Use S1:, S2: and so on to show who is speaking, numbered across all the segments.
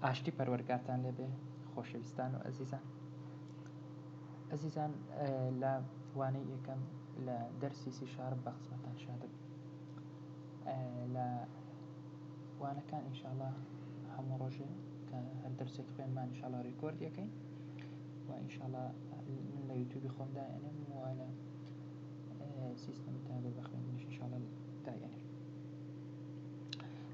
S1: ئاشتی پەروەرگارتان لێ بێ خۆشەویستان و ئەزیزان ئەزیزان لە وانەی یەکەم لە دەرسی سی شارب بە خزمەتان شادم لە وانەکان ئینشاالله هەموو ڕۆژێ کە هەر دەرسێک خوێنمان انشاءالله ڕیکۆرد یەکەین و انشاءالله من لە یوتیوبی خۆم دایێنم و لە سیستم تابێ بە خوێندنیش انشاءالله دایێنم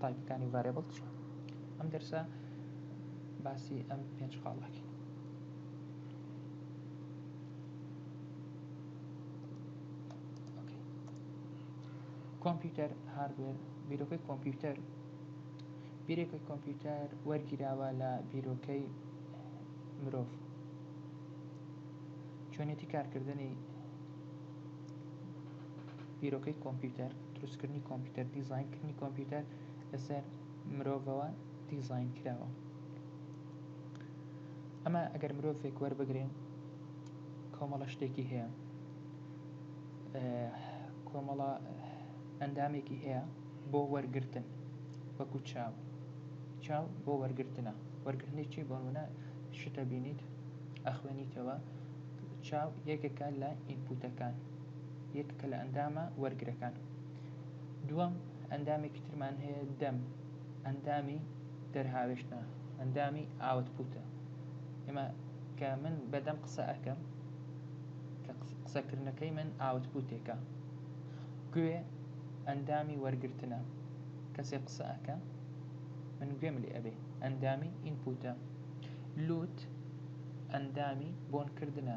S1: تایپەکانی و ڤارێبڵ چیە ئەم دەرسە باسی ئەم پێنج خاڵەکەین کۆمپیوتەر هاردوێر بیرۆکەی کۆمپیوتەر بیرێکی کۆمپیوتەر وەرگیراوە لە بیرۆکەی مرۆڤ چۆنێتی کارکردنی بیرۆکەی کۆمپیوتەر، دروستکردنی کۆمپیوتەر، دیزاینکردنی کۆمپیوتەر لەسەر مرۆڤەوە دیزاین کراوە. ئەمە ئەگەر مرۆڤێک وەربگرین کۆمەڵە شتێکی هەیە کۆمەڵە ئەندامێکی هەیە بۆ وەرگتن وەکو چاو چاو بۆ وەرگتنە وەرگرنی چی بۆنە شتە بینیت ئەخوێنیتەوە چاو یەکێکە لە ئینپوتەکان یەک کە لە ئەندامە وەرگرەکان دووەم ئەندامێکی ترمان هەیە دەم ئەندامی دەرهاوێشتە ئەندامی ئاوت پوتە ئێمە کە من بەدەم قسە ئەەکەم کە قسەکردنەکەی من ئاوت پوتێکە گوێ ئەندامی وەرگتنە کەسێک قسە ئەەکە من گوێم لێ ئەبێ ئەندامی ئینپوتە لوت ئەندامی بۆنکردە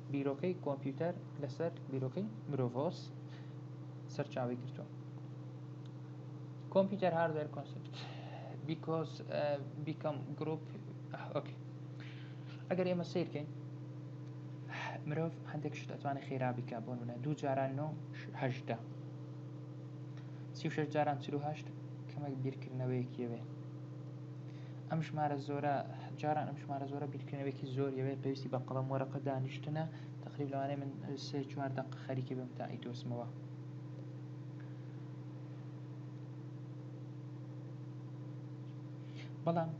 S1: بیرۆکەی کۆمپیوتەر لەسەر بیرۆکەی مرۆڤۆس سەرچاوی گرتووە کۆمپیوتەر هاردوێر کۆنسپت بیکۆز بیکەم گروپ ئۆکی ئەگەر ئێمە سیرکەین مرۆڤ هەندێک شت ئەتوانێت خێرا بیکە بۆ منە دوو جاران نهدا سی شش جاران چهشت کەمێک بیرکردنەوەیەکیەوێ ئەم ژمارە زۆرە جاران ئەم ژمارە زۆرە بیرکردنەوەیەکی زۆر یەوێت پێویستی بە قەڵەم وەرەقە دانیشتنە تقریب لەوانەیە من سێ چوار دەق خەریکی بم تا ئەیدۆزمەوە بەڵام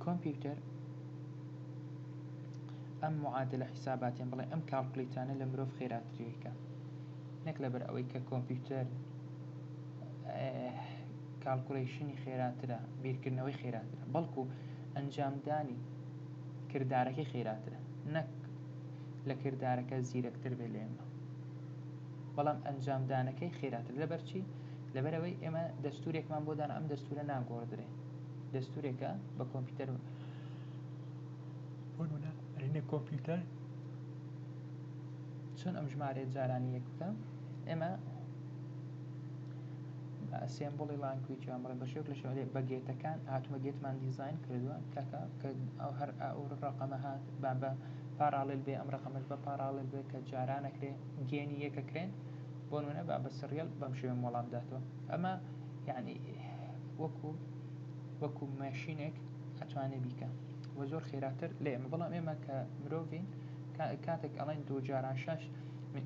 S1: کۆمپیوتەر ئەم معادلە حیساباتیان بڵێ ئەم کاڵکلیتانە لە مرۆڤ خێراتریکە نەک لەبەر ئەوەی کە کۆمپیوتەر کاڵکولەیشنی خێراترە، بیرکردنەوەی خێراترە، بەڵکو ئەنجامدانی کردارەکەی خێراترە، نەک لە کردارەکە زیرەکتر بێت لە ئێمە، بەڵام ئەنجامدانەکەی خێراترە، لەبەرچی؟ لەبەرئەوەی ئێمە دەستورێکمان بۆ دانا ئەم دەستورە ناگۆڕدرێ، دەستورێکە بە کۆمپیوتەر بۆ نمونە ئەرێنە کۆمپیوتەر چۆن ئەم ژمارەیە جارانی یەک بکە ئێمە ئەسێمبڵی لانگویج ئەمڕۆ بە شێوەیەک لە شێوە بەگێتەکان هاتووە گێتمان دیزاین کردووە تاکە کە هەر ئەو ڕەقەمە هات با بە پاڕاڵێل بێ ئەم ڕەقەمەش بە پاڕاڵێل بێ کە جاران ئەکرێ گێنی یەک ئەکرێن بۆ نموونە با بە سریەل بەم شێوەیە وەڵام داتەوە ئەمە یانی وەکو وەکو ماشینێک ئەتوانێ بیکا و زۆر خێراتر لە ئێمە بەڵام ئێمە کە مرۆڤین کاتێک ئەڵێن دوو جاران شەش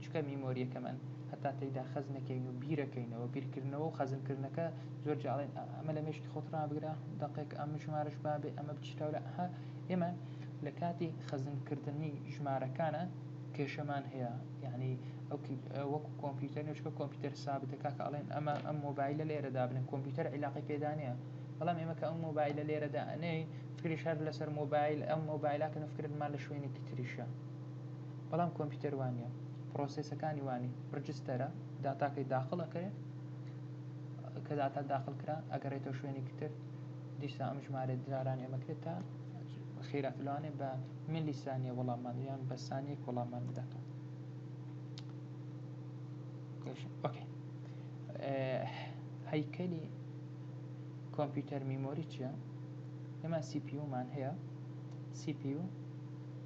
S1: چکە میمۆریەکەمان هەتا تێیدا خەز نەکەین و بیرەکەینەوە، بیرکردنەوە و خەزنکردنەکە زۆر جیا، ئەڵێن ئەمە لە مێشکی خۆت ڕابگرە، دەقێک ئەم ژمارەش بابێ، ئەمە بچیتە ورا، ئەها ئێمە لە کاتی خەزنکردنی ژمارەکانا کێشەمان هەیە، یانی وەکو کۆمپیوتەر نیە، چونکە کۆمپیوتەر سابتە، کاکە ئەڵێن ئەمە ئەم مۆبایلە لێرە دابنێ، کۆمپیوتەر عیلاقەی پێدا نیە، بەڵام ئێمە کە ئەم مۆبایلە لێرە دائەنێین فکریش هەر لەسەر مۆبایل، ئەم مۆبایلە کەن و فکرمان لە شوێنێکی تریشە. بەڵام کۆمپیوتەر وانیە پرۆسێسەکانی وانی ڕجستەرە داتاکەی داخڵ ئەکرێ کە داتا داخل کرا ئەگەڕێتەوە شوێنی کتر دیسا ئەم ژمارە داران ئەمەکرێت تا خێرات لەوانێ بە ملی سانیە وەڵامان یان بە سانیەک وەڵامان بداتەوە هەیکەلی کۆمپیوتەر میمۆری چیە؟ ئێمە سیپیومان هەیە سیپیو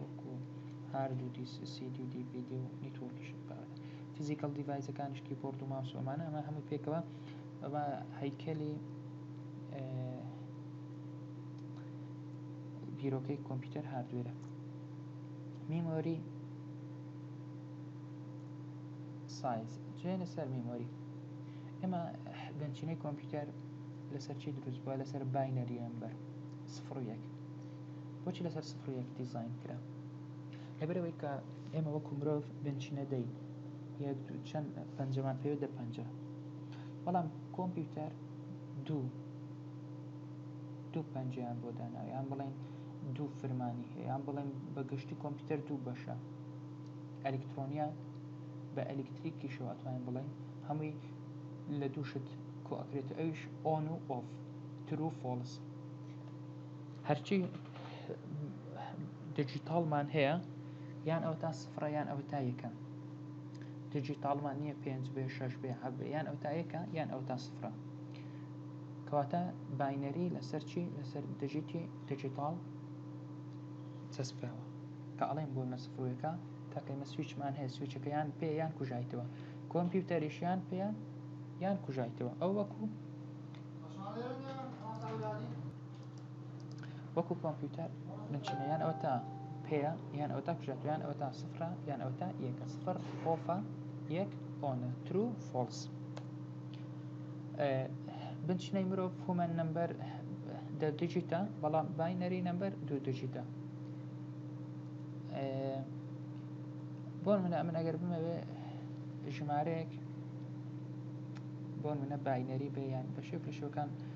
S1: وەکو هارد و دیس سیدی و دیڤیدی و نیتۆرکیش بەڕێ فیزیکەڵ دیڤایزەکانیش کیبۆرد و ماوس و ئەمانە ئەمە هەمووی پێکەوە بە هەیکەلی بیرۆکەی کۆمپیوتەر هاردوێرە میمۆری سایز جێنە سەر میمۆری ئێمە بنچینەی کۆمپیوتەر لەسەر چی دروست بووە لەسەر باینەری ئەمبەر سفڕ یەک بۆچی لەسەر سفر و یەک دیزاین کرا لەبەر ئەوەی کە ئێمە وەکو مرۆڤ بنچینە دەی یەک دوو چەند پەنجەمان پێوێت دە پەنجە بەڵام کۆمپیوتەر دوو دوو پەنجیان بۆ داناوە یان بڵێن دوو فرمانی هەیە یان بڵێن بە گشتی کۆمپیوتەر دوو بەشە ئەلکترۆنیا بە ئەلکتریکیشەوە ئەتوانین بڵێن هەمووی لە دوو شت کۆکرێت ئەویش ئۆن و ئۆف ترو فۆلس هەرچی دیجیتاڵمان هەیە یان ئەو تا سفرە یان ئەو تا یەکە دیجیتاڵمان نییە پێنج بێ شش بێ حەب یان ئەو تا یەکە یان ئەو تا سفرە کەواتە باینەری لەسەر چی لەسەر دژیتی دیجیتاڵ چەسپاوە کە ئەڵێن بۆ مەسفرۆەکە تاکەی مە سویچمان هەیە سویچەکەیان پێیان کوژایتەوە کۆمپیوتەریشیان پێیان یان کوژایتەوە ئەو وەکو وەکو کۆمپیوتەر بنچینە یان ئەوەتا پێیە یان ئەوەتا کوژێت یان ئەوەتا سفرە یان ئەوەتا یەکە سفر ئۆفە یەک ئۆنە ترو فۆڵس بنچینەی مرۆڤ هومەن نمبەر دە دیجیتە بەڵام باینەری نمبەر دوو دیجیتە بۆ منە ئەمن ئەگەر بمەوێ ژمارەیەک بۆ منە باینەری بێ یان بەشێک لە شوەکان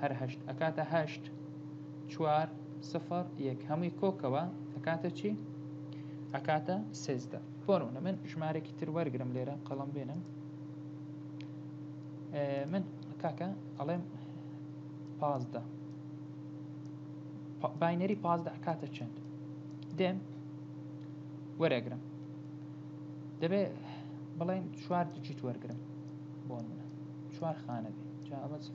S1: هەر هەشت ئەکاتە هەشت چوار سفر یەک هەمووی کۆکەوە ئەکاتە چی ئەکاتە سێزدە بۆنە من ژمارێکی تر وەرگرم لێرە قەڵم بێنم من کاکە ئەڵێم پازدە باینەری پازدە ئەکاتە چەند دێم وەرەگرم دەبێ بڵێن چوار دیجیت وەرگرم بۆ منە چوار خانە بێ جاوە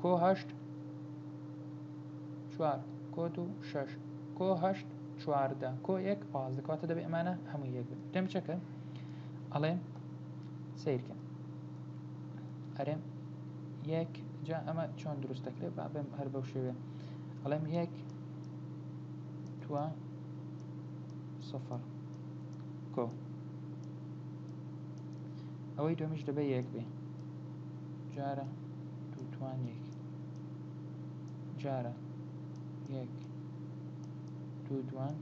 S1: کۆ هەشت چوار کۆ دوو شەش کۆ هەشت چواردە کۆ یەک پازدە کەواتە دەبێ ئەمانە هەموو یەک بن دەم چەکە ئەڵێم سیرکە ئەرێم یەک جا ئەمە چۆن دروست دەکرێت با بێم هەر بەو شێوێ ئەڵێم یەک توە سفر کۆ ئەوەی دومیش دەبێ یەک بێ جارە دووتوان یەک جارە یەک دوو دوان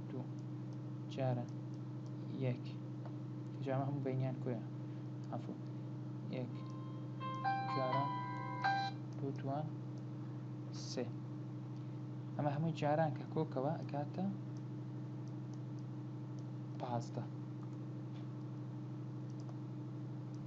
S1: دوو جارە یەک جامە هەموو بینیان کوێە ئەفو یەک جارە دوو دوان سێ ئەمە هەمووی جاران کە کۆکەوە ئەکاتە پازدە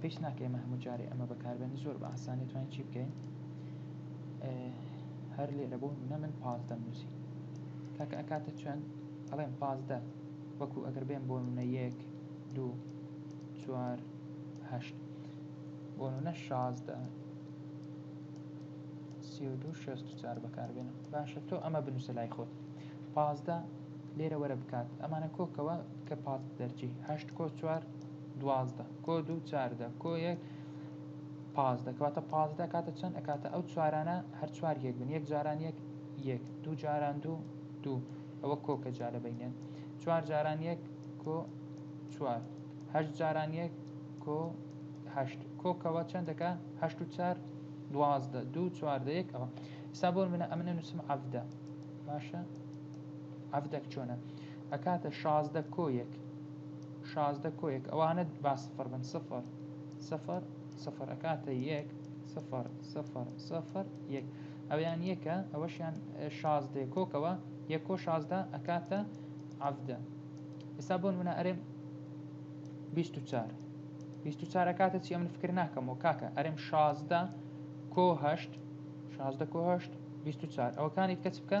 S1: پێویست ناکە ئێمە هەموو جارێ ئەمە بەکاربێن زۆر بە ئاسانی توانین چی بکەین هەر لێرە بۆ نە من پاس دەمنووسی کاکە ئەکاتە چۆن ئەڵێم پازدە وەکو ئەگەر بێن بۆ نە یەک دوو چوار هەشت بۆ نە شازدە سی و دوو شەست و چار بەکاربێنم باشە تۆ ئەمە بنووسە لای خۆت پازدە لێرە وەرە بکات ئەمانە کۆکەوە کە پازت دەرچی هەشت کۆ چوار دوازدە کۆ دوو چاردە کۆ یەک پازدە کەواتە پازدە کاتە چەند ئەکاتە ئەو چوارانە هەر چوار یەک بن یەک جاران یەک یەک دوو جاران دوو دوو ئەوە کۆکە جارە بینێن چوار جاران یەک کۆ چوار هەشت جاران یەک کۆ هەشت کۆکەوە چەندەکە هەشت و چار دوازدە دوو چواردە یەک ئەوە سابۆر منە ئەمنە نووسم عەفدە باشە عەڤدەک چۆنە ئەکاتە شازدە کۆیەک شازدە کۆیەک ئەوانە با سفر بن سفر سفر سفر ئەکاتە یەک سفر سفر سفر یەک ئەویان یەکە ئەوەشیان شازدە کۆکەوە یەک کۆ شازدە ئەکاتە عەڤدە ئێستا بۆن منە ئەرێم بیست و چار بیست و چارە کاتە چی ئەمن فکر ناکەمەوە کاکە ئەرێم شازدە کۆ هەشت شازدە کۆ هەشت بیست و چار ئەوەکانی کەچ بکە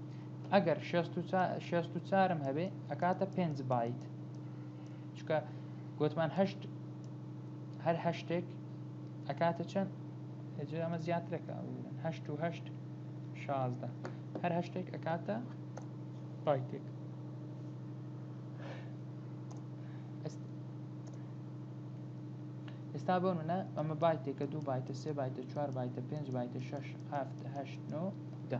S1: ئەگەر شێست و چارم هەبێ ئەکاتە پێنج بایت چکە گوتمان هەشت هەر هەشتێک ئەکاتە چەند هەجێ ئەمە زیاترەکە هەشت و هەشت شازدە هەر هەشتێک ئەکاتە بایتێک ئێستا بۆ منە ئەمە بایتێکە دوو بایتە سێ بایتە چوار بایتە پێنج بایتە شش هەفت هەشت نۆ ده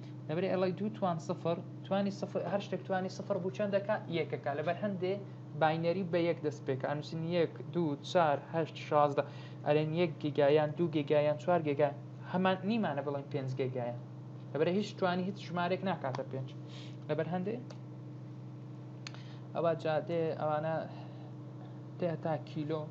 S1: دەبرێ ئەڵی دوو توان سفر توانی سفر هەر شتێک توانی سفر بوو چەند دەکا یەکەکە لەبەر هەندێ باینەری بە یەک دەست پێکە ئەنووسین یەک دوو چار هەشت شازدە ئەرێن یەک گیگایان دوو گێگایان چوار گێگا هەمان نیمانە بڵێن پێنج گێگایە لەبەر هیچ توانی هیچ ژمارێک ناکاتە پێنج لەبەر هەندێ ئەوە جادێ ئەوانە تێ تا کیلۆ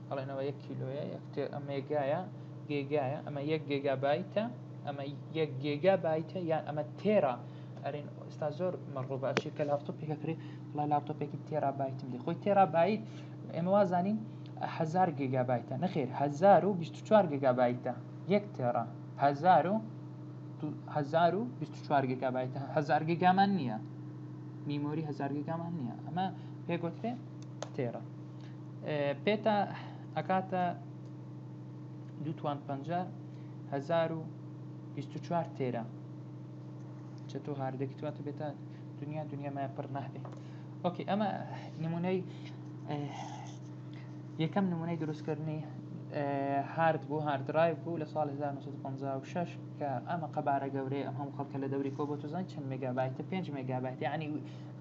S1: ئەڵێنەوە یەک کیلۆیە یەک ئەمێگایە گێگایە ئەمە یەک گێگا بایتە ئەمە یەک گێگا بایتە یان ئەمە تێرا ئەرێن ئێستا زۆر مەڕۆبە ئەچێت کە لاپتۆپ پێکەکرێ بڵێ لاپتۆپێکی تێرا بایتم دێ خۆی تێرا بایت ئێمە وازانین هزار گێگا بایتە نەخێر 1024 گێگا بایتە یەک تێرا هزار و 1024 گێگا بایتە هزار گێگامان نییە میمۆری هزار گێگامان نییە ئەمە پێگوترێ تێرە پێتە ئەکاتە دوو توان پەنجا هەزار و بیست و چوار تێرە چەتۆ هاردەکی تواتە بێتە دنیا دنیا مای پڕ نابێ ئۆکی ئەمە نمونەی یەکەم نمونەی دروستکردنی هارد بوو هاردرایڤ بوو لە سال 1956 کە ئەمە قەبارە گەورەیە ئەم هەم خەڵکە لە دەوری کۆ بۆ توزان چەند مگابایتە 5 مگابایت ینی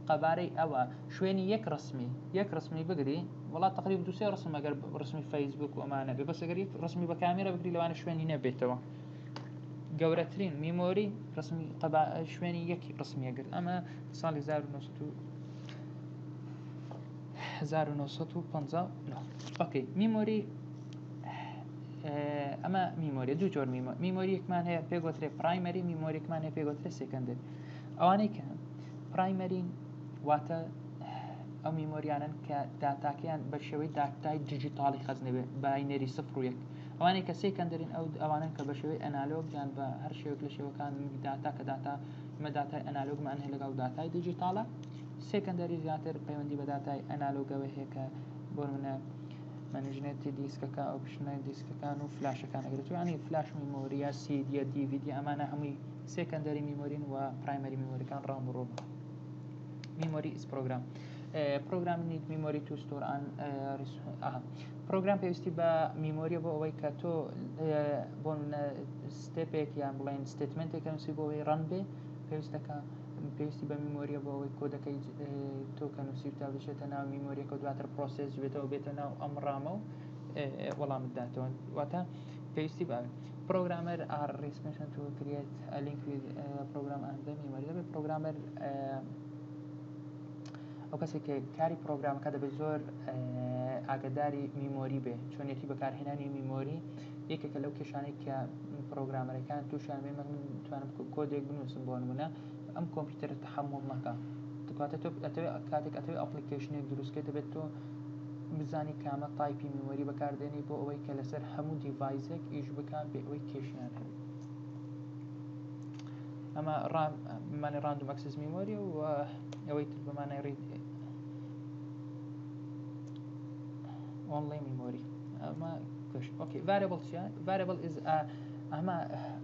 S1: قەبارەی ئەوە شوێنی یەک ڕسمی یەک ڕسمی بگری وڵات تقریب دوسێ ڕسم ئەگەر ڕسمی فەیسبوک و ئەمانە بێ بەس ئەگەر یەک ڕسمی بە کامێرە بگری لەوانە شوێنی نەبێتەوە گەورەترین میمۆری ڕسمی قەبا شوێنی یەک ڕسمیە گرت ئەمە ساڵی 1950 ئۆکەی میمۆری ئەمە میمۆری دوو جۆر میمۆریەکمان هەیە پێگوترێ پرایمەری میمۆریکمان هەیە پێگوترێ سێکەندێک ئەوانەی کە پرایمەرین واتە ئەو میمۆریانن کە داتاکەیان بە شێوەی داتای دیجیتاڵی خەزنەبێت باینەری سفر و یەک ئەوانەی کە سێکەندەرین ئەو ئەوانن کە بە شێوەی ئەنالۆگ یان بە هەر شێوەک لە شێوەکان داتا کە داتا مە داتای ئەنالۆگمان هەیە لەگەڵ داتای دیجیتاڵە سێکەندەری زیاتر پەیوەندی بە داتای ئەنالۆگەوە هەیە کە بۆ منە منیژنێتی دیسکەکە ئەو بشنە دیسکەکان و فلاشەکان ئەگرێت یانی فلاش میمۆریە سیدیە دیڤیدی ئەمانە هەمووی سێکەندەری میمۆرین و پرایمەری میمۆریەکان ڕاو بەڕۆ بکەن میمۆری ئیس پرۆگرام پرۆگرام نیت میمۆری تو ستۆر ئان پرۆگرام پێویستی بە میمۆریە بۆ ئەوەی کە تۆ بۆ ستێپێک یان بڵێن ستێتمنتێک نووسی بۆ ئەوەی ڕەن بێ پێویستەکە پێویستی بە میمۆریە بۆ ئەوەی کۆدەکەی تۆ کە نووسی تا بچێتە ناو میمۆریەکە دواتر پرۆسێس بێتەوە بێتە ناو ئەم ڕامە و وەڵامداتەوە واتە پێویستی باوێت پرۆگرامەر ئاڕ ڕیسپێشن تو کریەت ئە لینک ویز پرۆگرام ئەند دەم یوەر دەبێت پرۆگرامەر ئەو کەسێک کە کاری پرۆگرامەکە دەبێت زۆر ئاگداری میمۆری بێ چۆنێتی بەکارهێنانی میمۆری یەکێکە لەو کێشانێک کە پرۆگرامەرەکان تووشیان بێ من توانم کۆدێک بنووسم بۆ نمونە ئەم کۆمپیوتەرە تەحەموڵ نەکا دوکاتە تۆ ئەتەوێ کاتێک ئەتەوێ ئەپڵیکەیشنێک دروست کەی دەبێت تۆ بزانی کامە تایپی میمۆری بەکار دێنی بۆ ئەوەی کە لەسەر هەموو دیڤایزێک ئیش بکا بێ ئەوەی کێشەیان هەبێت ئەمە ڕام مانی ڕاندوم ئەکسس میمۆری و ئەوەی تر بەمانای ڕید ئۆنڵی میمۆری ئەمە کش ئۆکی ڤارێبڵ چیە ڤارێبڵ ئیز ئەمە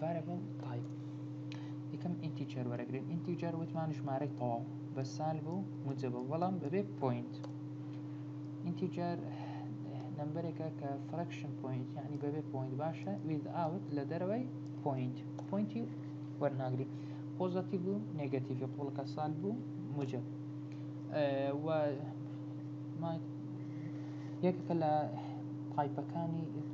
S1: ڤارێبڵ تایپ یەکەم ئینتیجەر وەرەگرن ئینتیجەر وتمان ژمارەی تەواو بە سال بوو موجەبە بەڵام بەبێ پوینت ئینتیجەر نمبرێکە کە فرەکشن پوینت یعنی بەبێ پوینت باشە ویز ئاوت لە دەرەوەی پوینت پوینتی وەرناگری پۆزەتی بوو نگەتیڤی قوڵەکە سال بوو موجب و یەکەکە لە تایپەکانی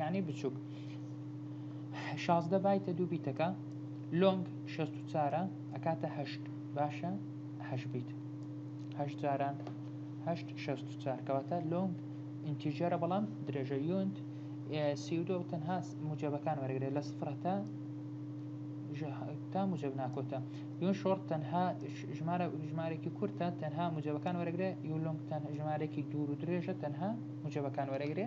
S1: یانی بچوک شازدە بایتە دوو بیتەکە لۆنگ شەست و چارە ئەکاتە هەشت باشە هەش بیت هەش جاران هەشت شەست و چار کەواتە لۆنگ ئینتیجەرە بەڵام درێژە یونت سیودۆ تەنها موجەبەکان وەرگێ لە سفرەتە تا موجب ناکۆتە یون شۆڕ تەنها ژمارە ژمارێکی کورتە تەنها موجبەکان وەرەگرێ یولۆنگ تەنها ژمارێکی دوور و درێژە تەنها موجبەکان وەرەگرێ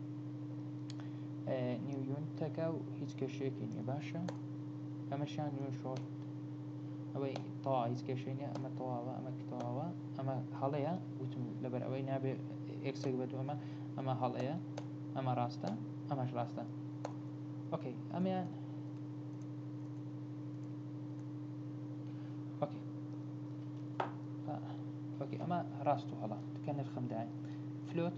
S1: نیو یونتەکە و هیچ کێشەیەکی نییە باشە ئەمەشان نوێ شۆرت ئەوەی تەوا هیچ کێشەی نیە ئەمە تەواوە ئەمە تەواوە ئەمە هەڵەیە وتم لەبەر ئەوەی نابێت ئەکسێک بێت ئەمە ئەمە هەڵەیە ئەمە ڕاستە ئەمەش ڕاستە ئۆکەی ئەمیان ئۆکەی ئۆکەی ئەمە ڕاست و هەڵە کە نرخم داین فلوت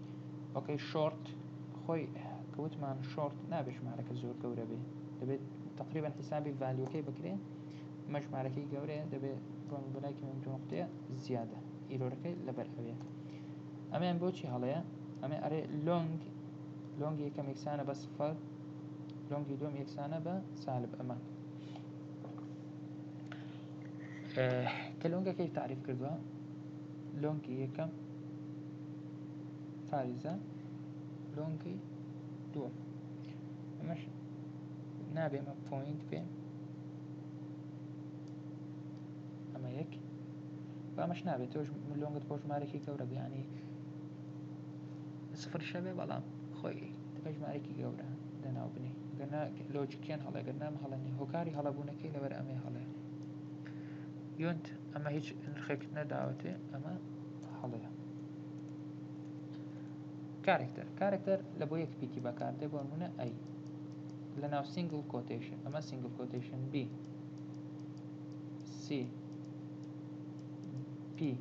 S1: ئۆکەی شۆرت خۆی کە وتمان شۆرت نابێت ژمارەکە زۆر گەورە بێت دەبێت تقریبان حیسابی ڤالیۆکەی بکرێت مە ژمارەکەی گەورەیە دەبێت ڕۆن بەلایکی من نقطەیە زیادە ئیرۆرەکەی لەبەر ئەوێ ئەمیان بۆچی هەڵەیە ئەمێ ئەرێ لۆنگ لۆنگی یەکەم یەکسانە بە سفەر لۆنگی دوم یەکسانە بە سالب ئەمە کە لۆنگەکەی تعریف کردووە لۆنگی یەکەم فاریزە لۆنگی دووەم ئەمەش نابێ ئەمە پۆینت بێ ئەمە یەک بامەش نابێت تۆش لۆنگت بۆ ژمارەێکی گەورە بیانی سفر شەبێ بەڵام خۆی تەکە ژمارەێکی گەورە دەناو بنی گەنا لۆجیکیان هەڵێگەر نام هەڵەنی هۆکاری هەڵەبوونەکەی لەبەر ئەمێ هەڵێ یۆنت ئەمە هیچ نرخێکت نەداوەتێ ئەمە هەڵەیە کارەکتەر کارەکتەر لە بۆ یەک پیتی بەکاردێ بۆ نمونە ئەی لە ناو سینگل کۆتەیشن ئەمە سینگل کۆتەیشن بی سی پی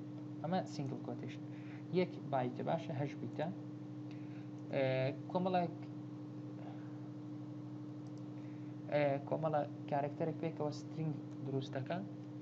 S1: ئەمە سینگل کۆتەیشن یەک بایتە باشە هەش بیتە کۆمەڵێک کۆمەڵە کارەکتەرێک پێکەوە سترینگ دروستەکە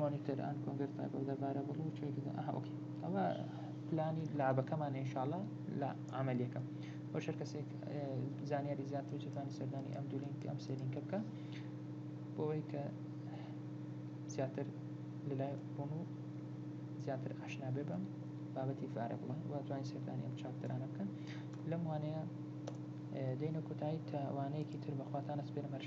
S1: مۆنیتەر ئەند کۆنگەر تایپ ئۆف دە ڤارەبڵ و چۆیس دە ئەها ئۆکەی ئەوە پلانی لعبەکەمان ئینشاڵا لە عملیەکە بۆ شەر کەسێک زانیاری زیاتر و چێتوانی سەردانی ئەم دوو لینک ئەم سێ لینکە بکە بۆەوەی کە زیاتر لەلای ڕۆن و زیاتر ئاشنا بێ بەم بابەتی فارە بڵێ واتوانین سەردانی ئەم چاپتەرانە بکەن لەم وانەیە دێنە کۆتایی تاوانەیەکی تر بەخواتانە سپێرمەرشە